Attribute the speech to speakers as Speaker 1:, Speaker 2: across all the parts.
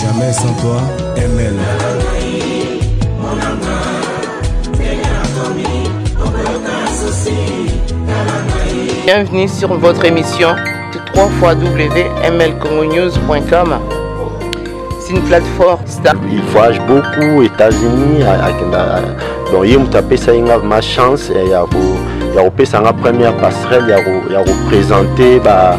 Speaker 1: Jamais sans toi, ML.
Speaker 2: Bienvenue sur votre émission www.mlcongonews.com C'est une plateforme star. Il voyage beaucoup,
Speaker 3: États-Unis, donc il m'a tapé ça, ma chance, et il y a ya kopesa nga première passerelle ya kopresente ba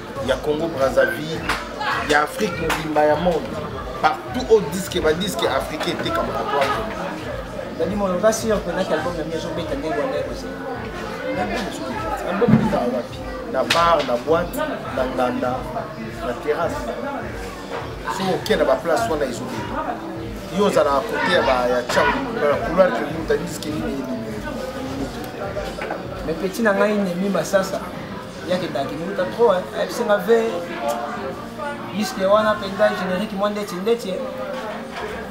Speaker 4: ya congo brazzaville ya afrique mobimba ya monde partout au disque badiske africain etekamaka to nadi
Speaker 5: mono oza sur mpena ke album na mi ezobeta ndenge wana ekozela album
Speaker 4: ebetaka wapi na bar na boite na nganda na terrasse soki oke na baplace wana ezobeta yo ozalaka kote ya cango na couloir tomuta diske nini mais
Speaker 5: petit na ngai nemi masasa yake daki mbuta trop ayebisi nga ve disque wana mpenza générique mwa ndeti ndeti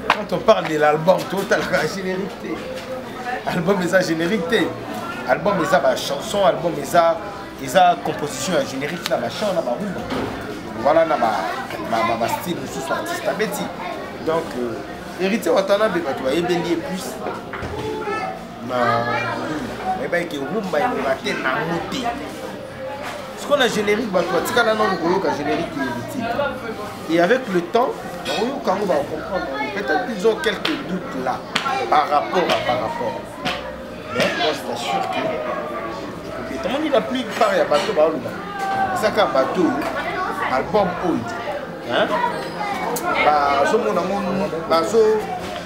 Speaker 4: quand on parle de l'album totalaka générique te album eza générique te album eza bachanson album eza eza composition ya générique na bachan na barumba voilà na bastyle mosusu artiste abeti donc euh, héritier watanabe bato bayebeli ye plus nayebaki ke rumba ekoka te nango te sikoyo na générique bato batikala nano koyoka générique elitide et avec le temps bakoyoka yango bakocomprendre peut-être ils ont quelques doutes là par rapport à par rapport mais moi c'est sûr que etomoni la plupart ya bato baoloba ezaka bato oyo album oyo bazomona ngo bazo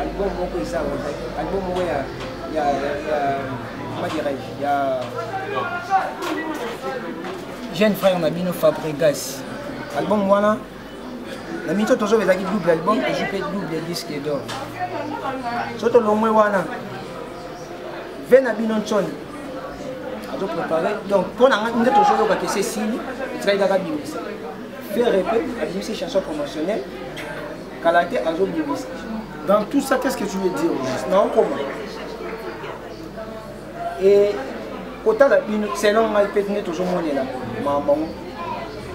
Speaker 5: album moko eza album moko ya ya ya comment dirais-je ya jeune frère na bino Fabregas album wana na miso tozo ezalaki double album ezwi mpe double disque d'or so tolongwe wana ve na bino nsoni azoprépare donc mpo na ngai nde tozoyoka kese esili etikali kaka bimisa Ferre pe abimisi chanson promotionnelle kala te azobimisa. Dans tout ça
Speaker 4: qu'est-ce que tu veux dire aujourd'hui? Na okoma.
Speaker 5: Et kotala bino selon ngai pe nde tozomonela makambo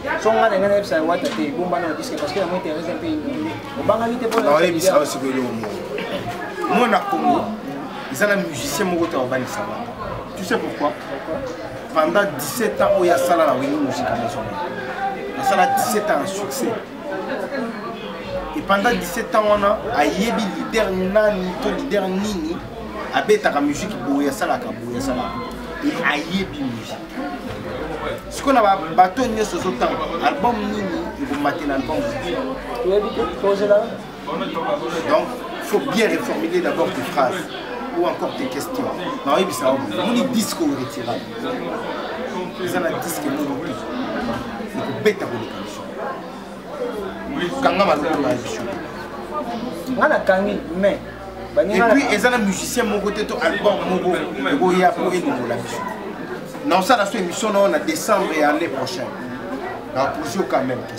Speaker 5: yango so ngai na ngai nayebisa wata te ebomba na diske parce que yango interese mpe obangaki te mponaoyebisa oyo sikoyo eloko
Speaker 4: moko mwana kongo eza na musicien moko te akobanisa bango tu sais pourquoi pendant 17 ans oyo asala na wenge musique maison asala 17 ans ya succès et pendant 17 ans wana ayebi leader nani to leader nini abetaka musique boye asalaka boye asalaka et ayebi musique sikoyo na bato nyonso ozotanga album nini ekomatela album donc faut bien reformuler d'abord tes phrases ou encore tes questions na oyebisa yo omoni disque oyo retirable eza na disque molobi ekobeta koleka biso kanga maloko na biso nga
Speaker 5: nakangi mais epuis
Speaker 4: eza na musicien moko te to album moko ekoya mpo elongola biso naosala so émission nao na décembre ya année prochaine naposi yo quand même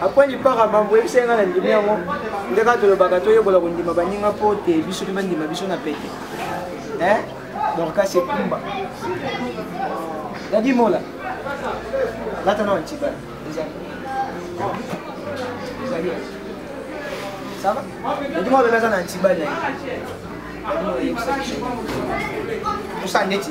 Speaker 5: apres lipaka mambo oyebisa ye ngai na ndimi yango nde kaka tolobaka toyekola kondima baninga mpo te biso mpe bandima biso na pete eh? dorkas ekumba dadi mola lata na wantibala ezali ezali sava dadi mola bebe aza na antibali na ye dadi mola yebisa biso tosala ndeti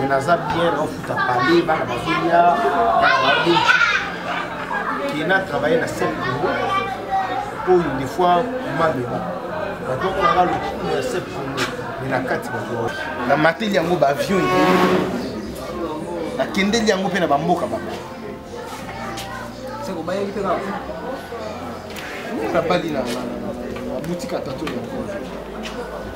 Speaker 4: me naza bien naofuta pale bana bazolia bana baobe ke na travaille na sep congo oyo des fois mabeba bato bakolanga lokumu ya sep congo me na kati bato na mateli yango baavion ebele nakendeli yango mpe na bamboka bango nabali na boutique ya tato yango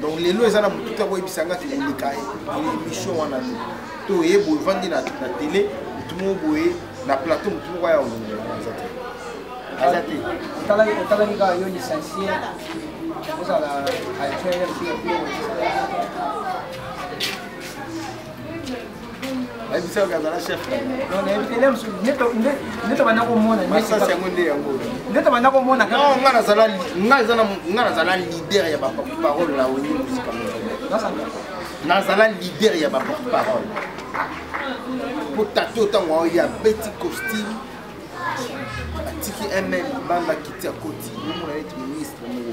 Speaker 4: donc lelo eza na motuki akoyebisa nga kikoleka ye émission wana te to oye boye vandi na tele motu moko boye na plateau motu moko aya olongola aza te aza te otalaki kaka
Speaker 5: yo licencie ozala actuel
Speaker 4: ayebisaka azala chef
Speaker 5: ndeto banda komona masasi yango nde yango
Speaker 4: ndeto banda komona
Speaker 5: nga
Speaker 4: nazala nga nazala leader ya baporte parole na oni musika nazala leader ya baporte parole mpo tato ntango ao ya beti costume atiki ml banda kiti ya koti omona neti ministre moko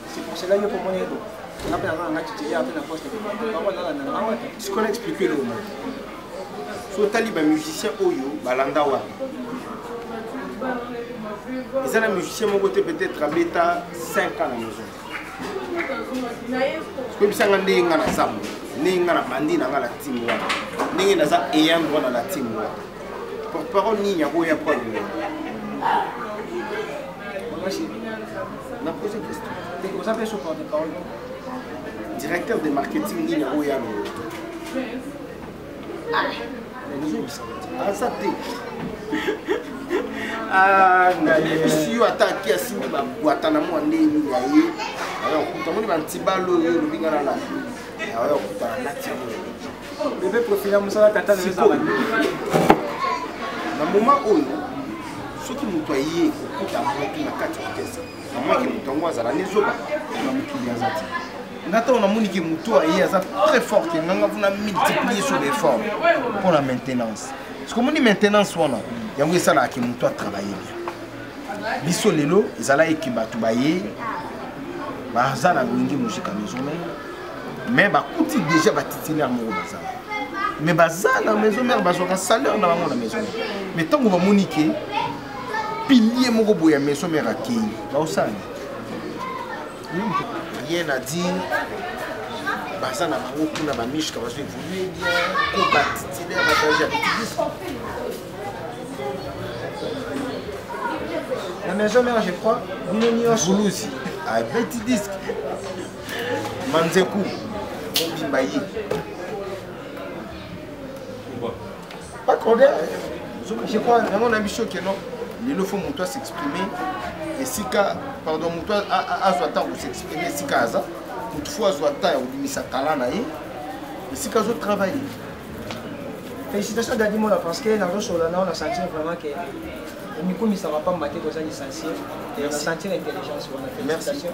Speaker 5: C'est pour cela
Speaker 4: que pour mon ego, on a pris un match qui est à la poste. Ce qu'on a expliqué le moment. So tali ba musicien oyo balanda wa. Ils ont un musicien mon côté peut-être à bêta 5 ans à la maison. koyebisanga ndenge nga naza mo ndenge nga na bandi na nga na timu wana ndenge naza eyang wana na timu wana porte parole nini yango ya problème Na pose question. Te oza pe sur porte
Speaker 5: parole.
Speaker 4: Directeur de marketing ni na oya no. Ah. Aza te. Ah, na yebisi yo ata aki asimbi babwata na mwa ndenge ya ye ayokuta moni bantibalo oyo olobinga na lapi ayokuta na tiango bebe
Speaker 5: profile ya mosala tata na
Speaker 4: ezala na moma oyo soki moto aye kokuta moto na kati ya orkestre namwaki moto yango azala nezoba na mokili aza te nga ntango namoni ke moto aye aza très fort ke nganga mpona multiplier sur l'effort mpo na maintenance sikomoni maintenance wana yango esalaka ke moto atravaille bien biso lelo ezalaki ke bato baye baza na loyenge mosika maison mare mais bakuti déjà batitulaire moko bazala mais baza na maison mère bazwaka salaire na bango na maison mère mais ntango bamoni ke pilier moko boye ya maison mère akei baosala rien à dire baza na bango kuna bamishka bazo évolue bien ko batitulaire batage ya bikibiso
Speaker 5: la maison mère je crois bino nyonso
Speaker 4: abeti disque manzeku obimba ye bacoder je crois yango na biso keno lelo fo moto asexprime esika pardon moto azwa ntango kosexprime esika aza moto fo azwa ntango ya kobimisa tala na ye esika azotravaille
Speaker 5: félicitation dadi mona parce que nazosolola nao na sentir vraiment que omikumisaka mpamba te toza licencie na sentir intelligence wana félicitation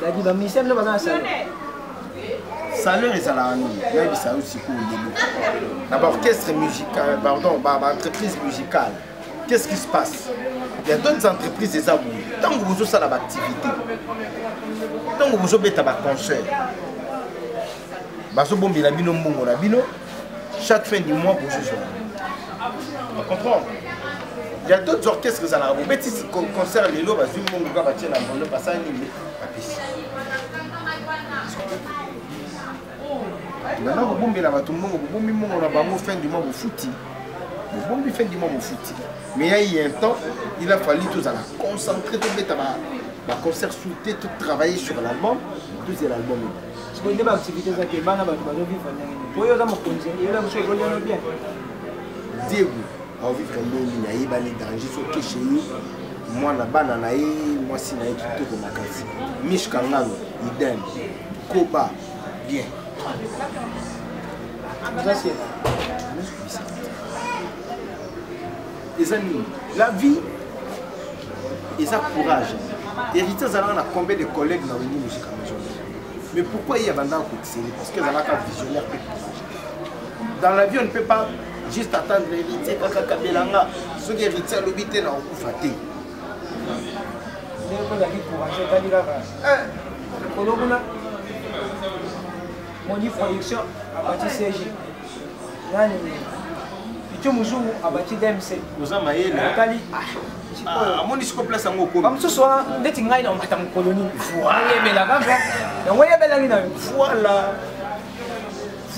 Speaker 5: dadi ba musicien bino baza na salon
Speaker 4: salaire ezalaka nini nayebisa yo sikoyo lelo na baorchestre musical pardon baentreprise musicale qu'est-ce qui se passe il y a d'autres entreprises eza boye ntango bozosala baactivité ntango bozobeta baconcert bazobombela bino mbongo na bino chaque fin du mois bozozwa comprendre ya d'autres orchestres ezalaka bobeti concert lelo bazwi mbongo kaka batie na bondo basala nini bapesi nana kobombela bato mbongo bobombi mbongo na bango fin du mois bofuti bobombi fin du mois bofuti mais ya ye un temps il a fallu tozala concentré tobeta baconcert soute totravailler sur l'album tozela album sikoyo nde baactivité
Speaker 5: eza te bana bato bazovivre ndenge nini po yo oza mokonzi eyola biso ekoliono bien
Speaker 4: diego aovivre ndenge nini ayebani danger sokeshe ye mwana bana na ye mwasi na ye kitoko makasi mish kangano idem koba bien oza sena eza nini la vie eza courage héritier azalaka na combien de collègues na wengi musika maison mais pourquoi ye abandaka kotiseli parce que azalaka visionnaire mpe courage dans la vie on ne peut pas juste attendre héritier kaka kabela nga soki héritier alobi te na okufa te ndenge
Speaker 5: ozali courage otali kaka likolo kuna moni production abati cg nani picho muzungu abati dmc oza mayele
Speaker 4: otali
Speaker 5: ah,
Speaker 4: amoni siko place yango okomi bamosusu wana ndeti ngai
Speaker 5: na omata mokolo nini oyebela kaka yango oyebelaki na yo voilà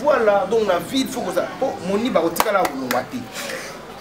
Speaker 4: voilà donc na ville faut koza po moni bakotikala kolongwa te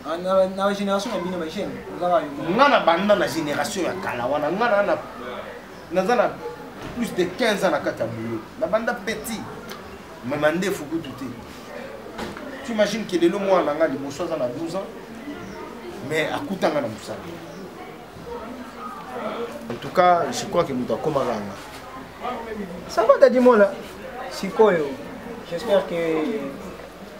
Speaker 4: Ah,
Speaker 5: na bagénération na bino bajeune nga na banda
Speaker 4: na génération ya kala wana nga na naza na plus de 15 ans na kati ya boulot na banda petit me mandefu kutu te tu imagine ke lelo mwana na nga liboso aza na 12 ans mais akutanga na mosala en tout cas je crois ke moto akomaka nga
Speaker 5: ça va dadimola sikoyo j'espère que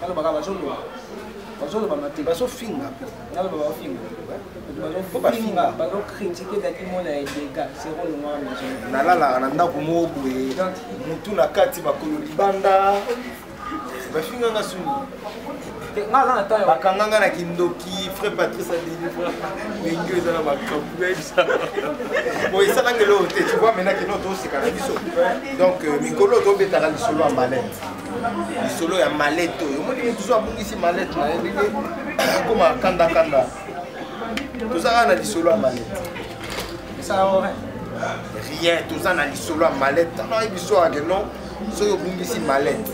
Speaker 5: balobaka bazoloba bazoloba mate
Speaker 4: bazofinga naloba
Speaker 5: bafinga bazofinga bazokritike daki mona ya dega zero longwa maison nalalaka na
Speaker 4: ndako moko boye motu na kati makolo libanda bafinganga suni
Speaker 5: bakanganga na kindoki
Speaker 4: frère patrice adelivra ndenge eza na makambo esalanga eloko te tu vois maintenant kino toseka na biso donc euh, mikolo tobetaka lisolo ya malete lisolo ya malete oyo omoni motu zo abungisi malete na ye ndenge akoma kandakanda toza kaka na lisolo ya malete rien toza na lisolo ya malete tana oyebi so ake non soki obungisi malete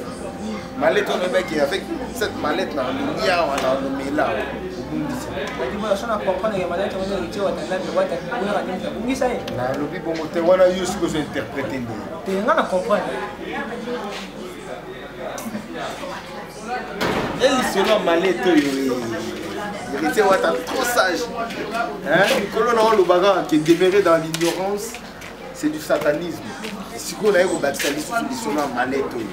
Speaker 4: malete wana ebaki avec cette malete na olongi awa na olomela awa obungisi
Speaker 5: nalobi bongo
Speaker 4: te wana yo soki ozo interprete nde elisolo ya malete oyo héritier wata trop sage mikolo na olobaka ke demeurer dans l'ignorance c'est du satanisme sikoyo naye kobakisa lisusu lisolo ya malete oyo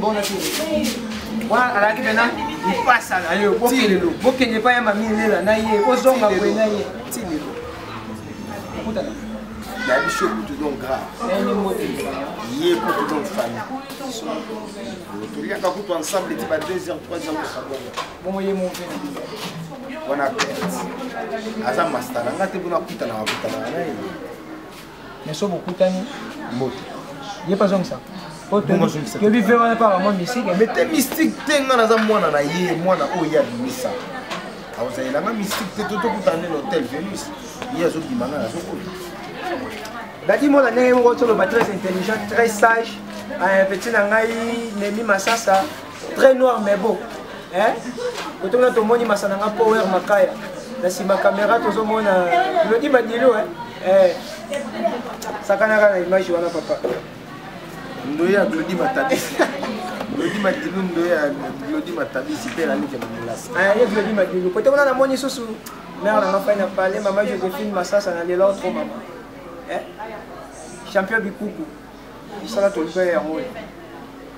Speaker 5: Bon, wana alaki mpena mpasa na yo bokelelo bokende epai ya mami elela na ye ozonga boye na ye ti lelo okutana
Speaker 4: na biso kutu donc grave ye kutu donc famille toliaka kutu ensemble ti ba 2 heures 3 heures kosabonga bongo ye movena
Speaker 5: wana
Speaker 4: perte aza masta na nga te mpona kutanaka kutanaka na ye
Speaker 5: mais so bokutani mbote ye mpe azongisa toyebi ve wana mpe akamwa mystique mais te mystique
Speaker 4: te ngai naza mwana na ye mwana oyo ye abimisa akozalela nga mystique te to tokutana nde na hotel venus ye azobima ngai nazokola
Speaker 5: dadi mona ndenge moko toloba très intelligent très sage petit na ngai nemi masasa très noir mais beau hein koto na tomoni masana nga power makaya na sima caméra tozomona lodi badilo hein eh sakanaka na image wana papa
Speaker 4: ndoya lodi matabisi lodi madilu ndoya lodi matabisi mpe nalike na molasi ah, ye lodi madilu
Speaker 5: kote kuna namoni susu mare nanga fai na pale mama josephine masasa na lelo tro mama eh? champion bikuku esala tolibaya yango oyo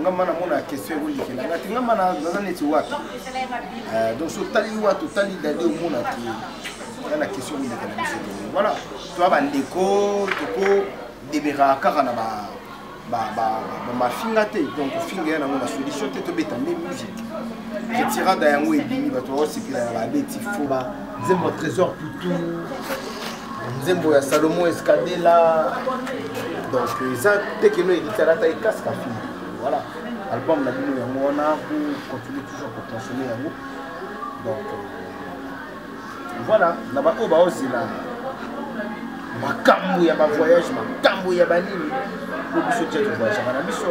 Speaker 4: nga mana mona question ekolekela nga te nga mana naza neti wapi eh, donc so otali wapi otali dade omona te nga na question ekolekela biso te voilà toa bandeko toko demeuraka kaka na ba bamafinga te donc ofinga ya nango na solution te tobeta nde musique etirada yango ebimi bato baosepela na babeti foba nzembo trésor tutu nzembo ya salomo escadela donc eza te keno elitala ata ekasika fini voilà album na bino yango wana po continue toujours koconsommer yango donc euh, voilà na baoyo baozela makambo ya bavoyage makambo ya banini po biso tia tovoyagaka na biso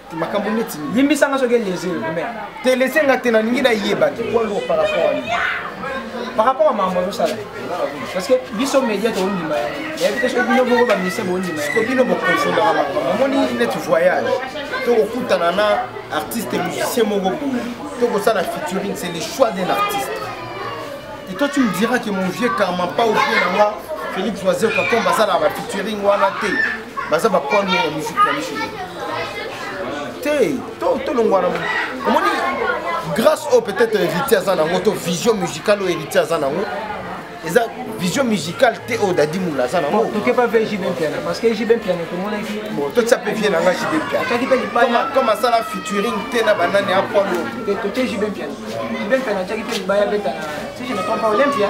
Speaker 5: makambo
Speaker 4: neti limbisa nga soki elese
Speaker 5: me te lese nga te
Speaker 4: nalingi nayeba te poids lourd par rapport à nini par rapport
Speaker 5: à makambo azosala parce que biso média tokondima yayebi te soki bino boko baministre bokondima ko bino bokosondaka
Speaker 4: makambo omoni neti voyage tokokutana na artiste musicien moko boye tokosala featuring c'est le choix d'un artiste et toi tu me diras que mon vieux karmapa ou bien nanga félix oiseau kakomba asalaka bafeaturing wana te baza bapoil ya musique na biso te tolongwana omoni grâce oyo peut-être héritier aza nango to vision musicale oyo héritier aza nango eza vision musicale te oyo dadi mula aza nango toke pa vie jb
Speaker 5: mpiana parce que jb mpiana tomonaki bon totya mpe vie nanga
Speaker 4: jb mpianakoma asala featuring te na banani apolo toke jb mpiana jb mpiana atyaki mpe libaya beta na si je ne trompe pas olympia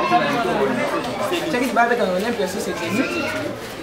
Speaker 4: atyaki
Speaker 5: libaya beta na olympia si c'est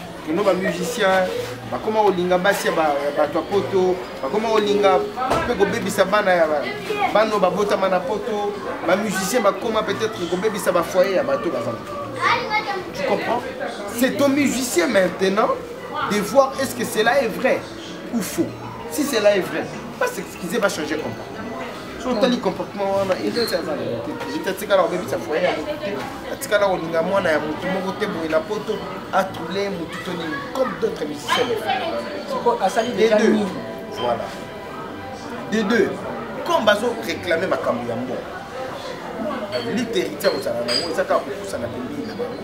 Speaker 4: kino ba musicien bakoma kolinga basi ya bato ya poto bakoma kolinga mpe kobebisa bana ya bano babotama na poto ba musicien bakoma peut-être kobebisa bafoyer ya bato bazala tu comprends c'est au musicien maintenant de voir est-ce que cela est vrai ou faux si cela est vrai va s'excuser va changer comportement so otali comportement wana eleti aza na mote eleti atikala kobebisa foye ya motu te atikala kolinga mwana ya motu moko te boye na poto atroule motu to nini comme d'autres musiciens soko asali déjà nini voilà de deux comme bazo réclame makambo ya mbongo lite héritier kozala nango eza kaka kopusana pembeni na bango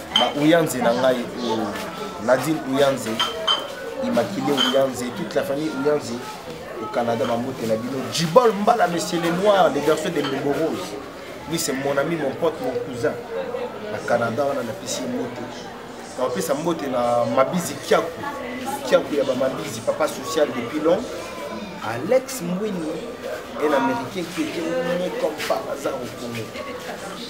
Speaker 4: ba Uyanze na ngai oh. Nadine Uyanze Immaculée Uyanze toute la famille Uyanze au Canada bambote na bino Jibol Mbala monsieur le noir le garçon de Mbembo Rose lui c'est mon ami mon pote mon cousin na Canada wana napesi ye mbote napesa mbote na Mabizi Kiaku Kiaku ya ba Mabizi papa social depuis long Alex Mwini un américain qui était né comme par hasard au Congo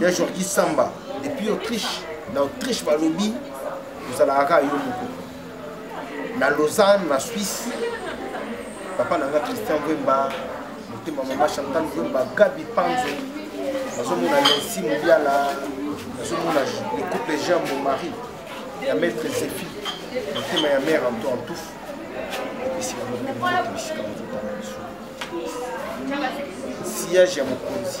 Speaker 4: ya jorgi samba depuis autriche na autriche balobi ozalaka kaka yo moko na lausanne na suisse papa na nga christian vemba motema mama chantal vemba gabi panzo nazomona lensi mobiala nazomona le couple jean mon mari ya maître zefi motema ya mare anto antufu epesi bango mpe mbote bisika mozotala biso sillage ya mokonzi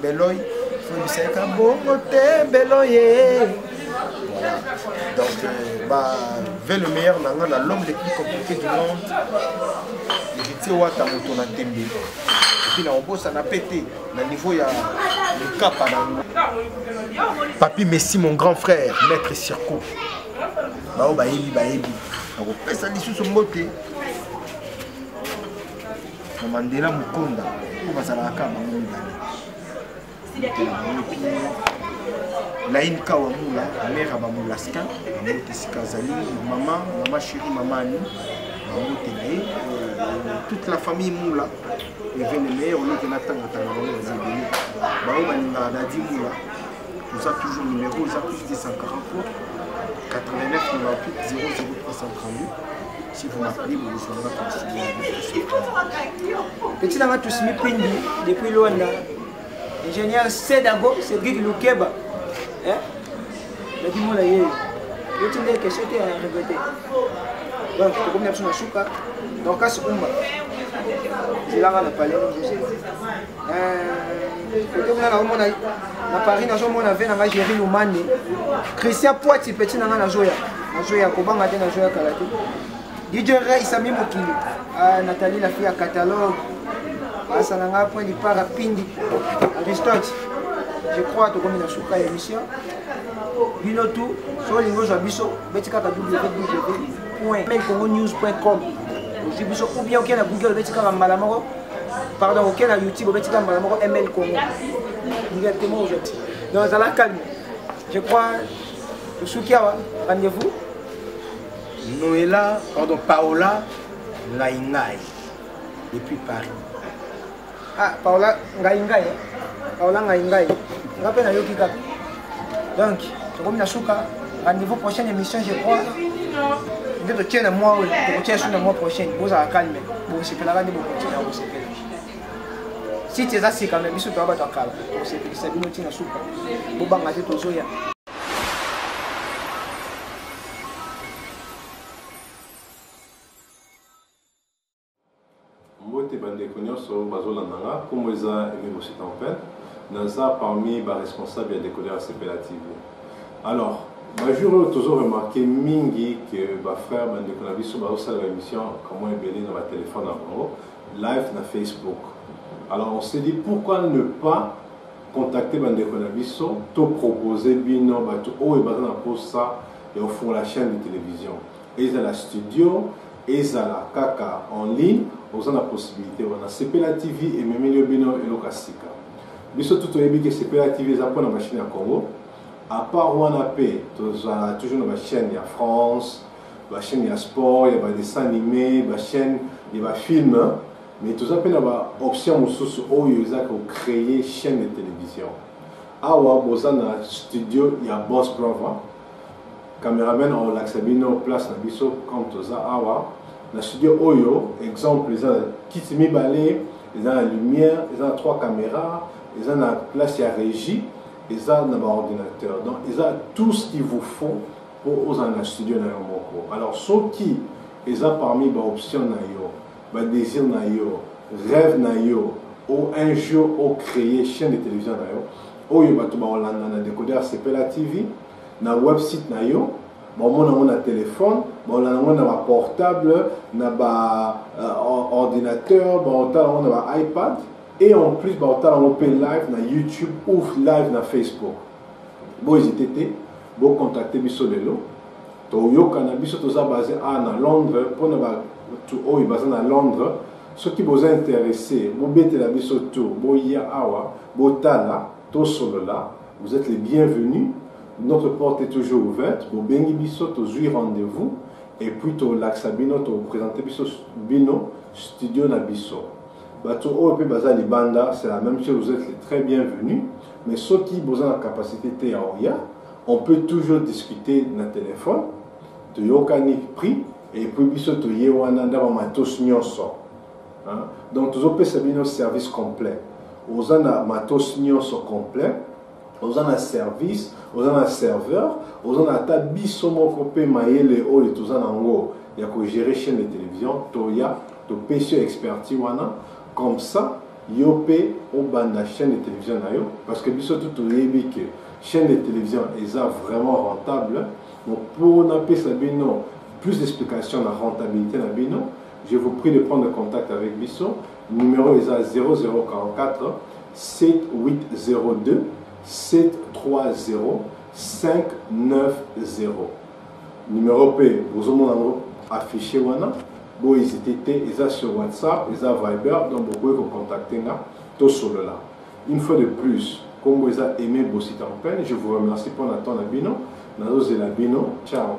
Speaker 4: Beloy, Fobiseka Bongo Te Beloye. Voilà. Donc, euh, bah, vers le meilleur nanga, na l'homme le plus compliqué du monde, héritier Wata Moto na Tembe. Et puis, na Obosa na pété, na niveau ya le cap à Papi Messi, mon grand frère, maître Circo. Bah, oh, bah, il, bah, il. nakopesa lisusu mbote na mandela mokonda oyo bazalaka kaka bango mibale laine kawa mula mare ya bamolaskin bango te sika azali mama mama sheri mama ani bango te na ye euh, toute la famille mula evenemeye olokena ntango tanga bango baza ebele bango balingaka dadi mula oza toujours numéro oza plus 243 89 98 00338 si vous m'appelez bokozwa nga konsili
Speaker 5: petit nanga tusimi pindi depuis luanda ingénieur sedago cedric lukeba nakimona yeyo yoti nde question te ya regrete donc tokomi na biso na suka dorcas umba zelanga na palais kote kuna naomona na paris nazomona ve na ngai géri lumane christian poiti peti na ngai nazoya nazoya kobanga te nazoya kala te dj rey sami mokili ah, natali lafi ya catalogue asa na ngai point dipara pindi aristote je crois tokomi na suka ya émission bino tu so olingi ozwa biso beti kaka www point congo news point com ozwi biso ou bien okenda google beti kaka mbala moko pardon oke na youtube obetika mbala moko ml congo directement ozoti donc zala calme je crois osuki awa rendez-vous noela
Speaker 4: pardon paola ngai ngai depuis paris
Speaker 5: ah paola ngai ngai eh? paola ngai ngai nga mpe nayoki kaka donc tokomi na suka rendez-vous prochaine émission je crois nde totie na mwa oyo tokotia su na mwa prochaine bozala calme bosepelaka nde bokotina kosepela site eza sika me biso toya bato ya kala kosepelisa bino ntina suka bobanga te tozoya
Speaker 6: Mbote ba ndeko nionso bazolanda nga, kombo eza Aime Bossy Tempin, naza parmi ba responsables ya Decoder Sepela TV. Alors, ba jours oyo tozo remarquer mingi que ba frères ba ndeko na biso bazosala ba emission ka mwa ebele na ba telephone na bango live na Facebook. Alors on s'est dit pourquoi ne pas contacter ba ndeko na biso to proposer bino bato oyo baza na posa ya kofungola chaîne de télévision. Ezala studio, ezala kaka en ligne, oza na possibilite wana. Sepela TV ememeli yo bino eloko ya sika. Biso tout toyebi ke Sepela TV eza pona ba chaine ya Congo. A part wana pe tozala toujours na ba chaine ya France, ba chaine ya sport, ya ba dessins animés, ba chaine ya ba films, mais toza pe na ba options mosusu oyo eza ko creer chaine de television. Awa boza na studio ya Boss Brother. Cameraman akolakisa bino place na biso comme toza awa na studio oyo exemple eza na kiti mibale eza na lumière eza na trois caméra eza na place ya régie eza na baordinateur donc eza tout ce qu'il vous faut mpo ozala na studio na yo moko alors soki eza parmi baoption na yo badésir na yo rêve na yo o un jour ocréer chaîne de télévision na yo oyo bato bakolanda na décodeur sepela tv na website na yo baomona yango na telefone baolanda yango na baportable na baordinateur euh, baotala yango na baipad et en plus baotala yango mpe live na youtube ou live na facebook boezite te bocontacte biso lelo toyokana biso toza base a na londres mpona bato oyo baza na londres soki boza interesse bobetela biso tour boya awa botala Tosolola, vous etes les bienvenus, notre porte est toujours ouverte, bobengi biso tozui rendez-vous et puis tolakisa bino to presenter biso bino studio na biso. Bato oyo pe baza libanda, c'est la même chose, vous êtes les très bienvenus, mais soki boza na capacité te ya oya, on peut toujours discuter na téléphone, toyokani prix et puis biso toye wana ndaba matos nyonso. Hein? Donc tozo pesa bino service complet. Oza na matos nyonso complet. Oza na service, oza na serveur, oza na ata biso moko pe mayele oyo toza na ngo ya ko gérer chaîne de télévision toya to pesi expertise wana comme ça yo pe obanda chaîne de télévision na yo parce que biso tout toyebi que chaîne de télévision eza vraiment rentable. Donc pour na pesa bino plus d'explications na rentabilité na bino Je vous prie de prendre contact avec biso numero eza 0044 7802 730 590 numero mpe bozomona yango affiche wana bo hésite te eza sur whatsapp eza viber donc bokoki kocontacte nga tosolola une fois de plus nkombo eza aimé bositampene je vous remercie mpo na temps na bino nazozela bino ciao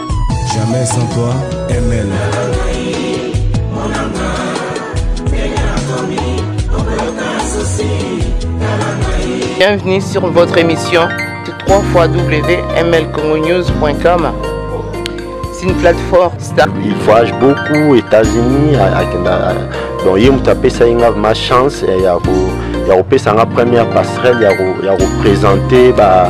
Speaker 1: Jamais sans toi, ML.
Speaker 2: Bienvenue sur votre émission www.mlcongonews.com C'est une plateforme star. Il voyage beaucoup,
Speaker 3: États-Unis, donc il m'a tapé ça, ma chance, et il y a ya kopesa nga première passerelle ya kopresente ba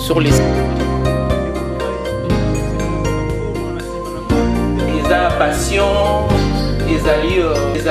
Speaker 2: sur les eza passion ezali euh,